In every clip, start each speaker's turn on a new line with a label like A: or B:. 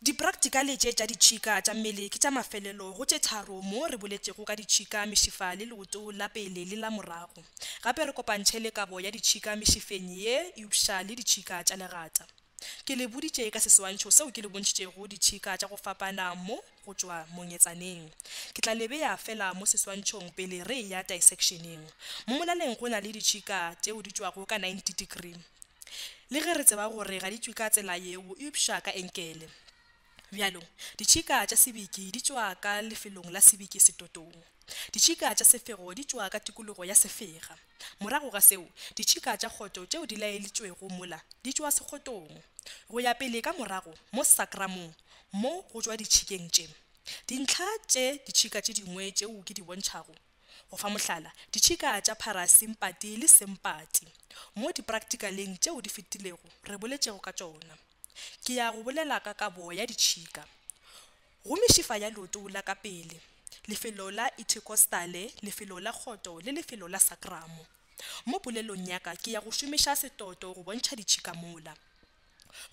A: Dipraktikale tše tša ditšhika tša mmele ke tša mafelelo go tše tharo mo re boletšego ka ditšhika, mešifa le leoto la pele le la morago. Gape re kopantšhe le kabo ya ditšhika mešifeng ye eupša le ditšhika tša legata. Ke le boditše ka seswantšho seo ke le bontšhitšego ditšhika tša go fapana mo go tšwa monyetsaneng. Ke tla le bea fela mo seswantšhong pele re eya disection-eng. Mo molaleng go na le ditšhika tšeo di tšwago ka 90 degree. Le ge re tseba gore ga di tšwe ka tsela yeo eupša ka enkele. Bjalo, ditšhika tša sebiki di tšwa ka lefelong la sebiki setotong. Ditšhika tša sefego di tšwa ka tikologo ya sefega. Morago ga seo, ditšhika tša kgoto tšeo di laelitšwego mola di tšwa sekgotong. Go ya pele ka morago mo sakramong mo go tšwa ditšhikeng tše, dintlha tše ditšhika tše dingwe tšeo ke di bontšhago, Go fa mohlala, ditšhika tša pharasimpati le simpati, mo dipracticaleng tšeo di fetilego re boletšego ka tšona. Ke ya go bolela ka kabo ya ditšhika. Go mešifa ya leoto la ka pele, lefelo la ithekostale, lefelo la kgoto le lefelo la sakramo. Mo polelong ya ka ke ya go šomiša setoto go bontšha ditšhika mola.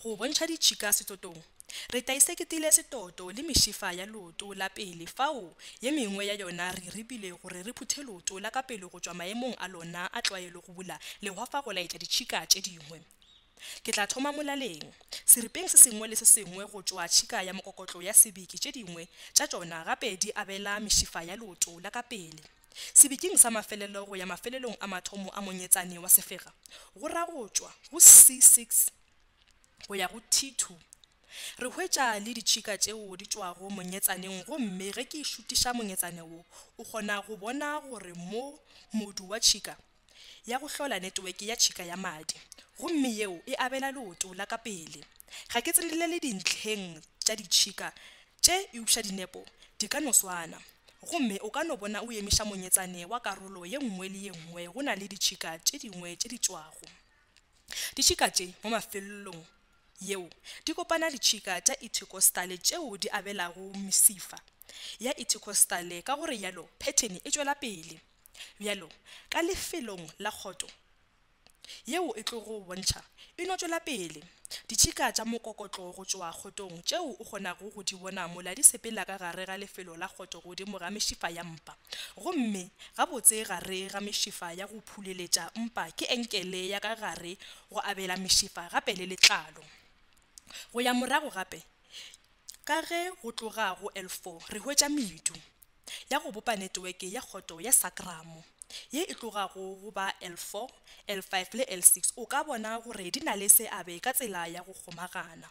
A: go bontšha ditšhika setotong. Re taiseketile setoto le mešifa ya leoto la pele fao ye mengwe ya yona re e ribile gore re phuthe leoto la ka pele go tšwa maemong a lona a tlwaelo go bula lehwafa go laetša ditšhika tše dingwe. Ke tla thoma molaleng, seripeng se sengwe le se sengwe go tšwa tšhika ya mokokotlo ya sebiki tše dingwe tša tšona gape di abela mešifa ya leoto la ka pele. Sebiking sa mafelelo go ya mafelelong a mathomo a monyetsane wa sefega, go ra go tšwa go C6 go ya go T2, re hwetša le ditšhika tšeo di tšwago monyetsaneng gomme ge ke šutiša monyetsane wo o kgona go bona gore mo modu wa tšhika ya go hlola neteweke ya tšhika ya madi gomme yeo e abela leoto la ka pele. Ga ke tsenelele dintlheng tša ditšhika tše eupša dinepo di ka no swana. Gomme o ka no bona o emiša monyetsane wa karolo ye nngwe le ye nngwe go na le ditšhika tše dingwe tše di tšwago. Ditšhika tše mo mafelelong yeo di kopana ditšhika tša ithekostale tšeo di abelago mesifa ya ithekostale ka go re yalo phethene e tšwela pele. Bjalo ka lefelong la kgoto yeo e tlogo bontšha, e no tšwela pele. Ditšhika tša mokokotlo go tšwa kgotong tšeo o kgonago go di bona mola di sepela ka gare ga lefelo la kgoto godimo ga mešifa ya mpa. Gomme gabotse gare ga mešifa ya go phuleletša mpa ke enkele ya ka gare go abela mešifa gape le letlalo. Go ya morago gape ka ge go tloga go L4 re hwetša medu. ya go bopa neteweke ya kgoto ya sakramo, ye e tlogago go ba L4, L5 le L6, o ka bona gore di na le seabe ka tsela ya go kgomagana.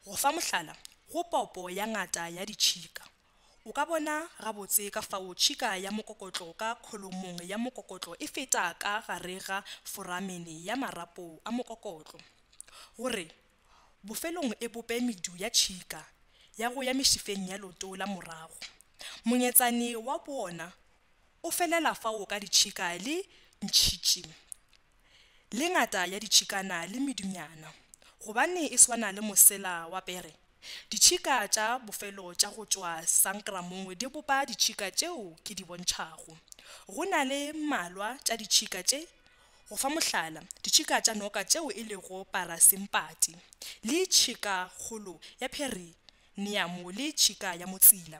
A: Go fa mohlala, go popo ya ngata ya ditšhika, o ka bona gabotse ka fao tšhika ya mokokotlo ka kholomong ya mokokotlo e feta ka gare ga foramene ya marapo a mokokotlo, gore bofelong e bope medu ya tšhika ya go ya mešifeng ya leoto la morago. Monyetsane wa bona o felela fao ka ditšhika le ntšhitši le ngata ya ditšhikana le medunyana. Gobane e swana le mosela wa pere, ditšhika tša bofelo tša go tšwa sankramong di bopa ditšhika tšeo ke di bontšhago. Go na le mmalwa tša ditšhika tše Go fa mohlala, ditšhika tša noka tšeo e lego parasimpati, le tšhikakgolo ya pheriniamo le tšhika ya motsila,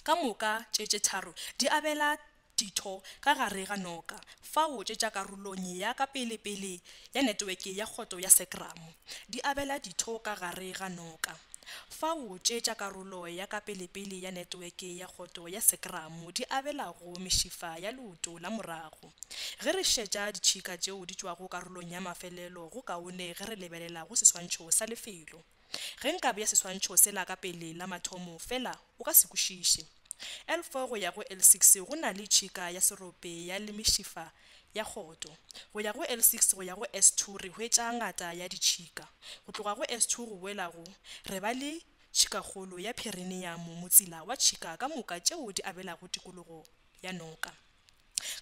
A: ka moka tše tše tharo di abela ditho ka gare ga noka fao tše tša karolong ya ka pele-pele ya netweke ya kgoto ya sekramo di abela ditho ka gare ga noka fao tše tša karolo ya ka pele-pele ya netweke ya kgoto ya sekramo di abelago mešifa ya leoto la morago. Ge re šetša ditšhika tšeo di tšwago karolong ya mafelelo go kaone ge re lebelela go seswantšho sa lefelo. Ge nka bea seswantšho sela ka pele la mathomo fela o ka se kwešiše. L4 go ya go L6 go na le tšhika ya serope ya lemešifa ya kgoto. Go ya go L6 go ya go S2 re hwetša ngata ya ditšhika. Go tloga go S2 go boela go re ba le tšhikakgolo ya phereniamo motsila wa tšhika ka moka tšeo di abelago tikologo ya noka.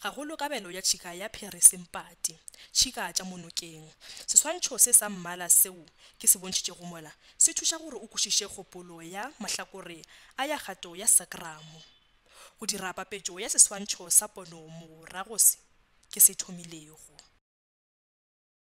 A: gagolo kabelo ya tšhika ya pheresempati, tšhika tša monokeng. Seswantšho se sa mmala seo ke se bontšhitšego mola se thuša gore o kwešiše kgopolo ya mahlakore a ya kgato ya sakramo. Go dira papetšo ya seswantšho sa pono morago se ke se thomilego.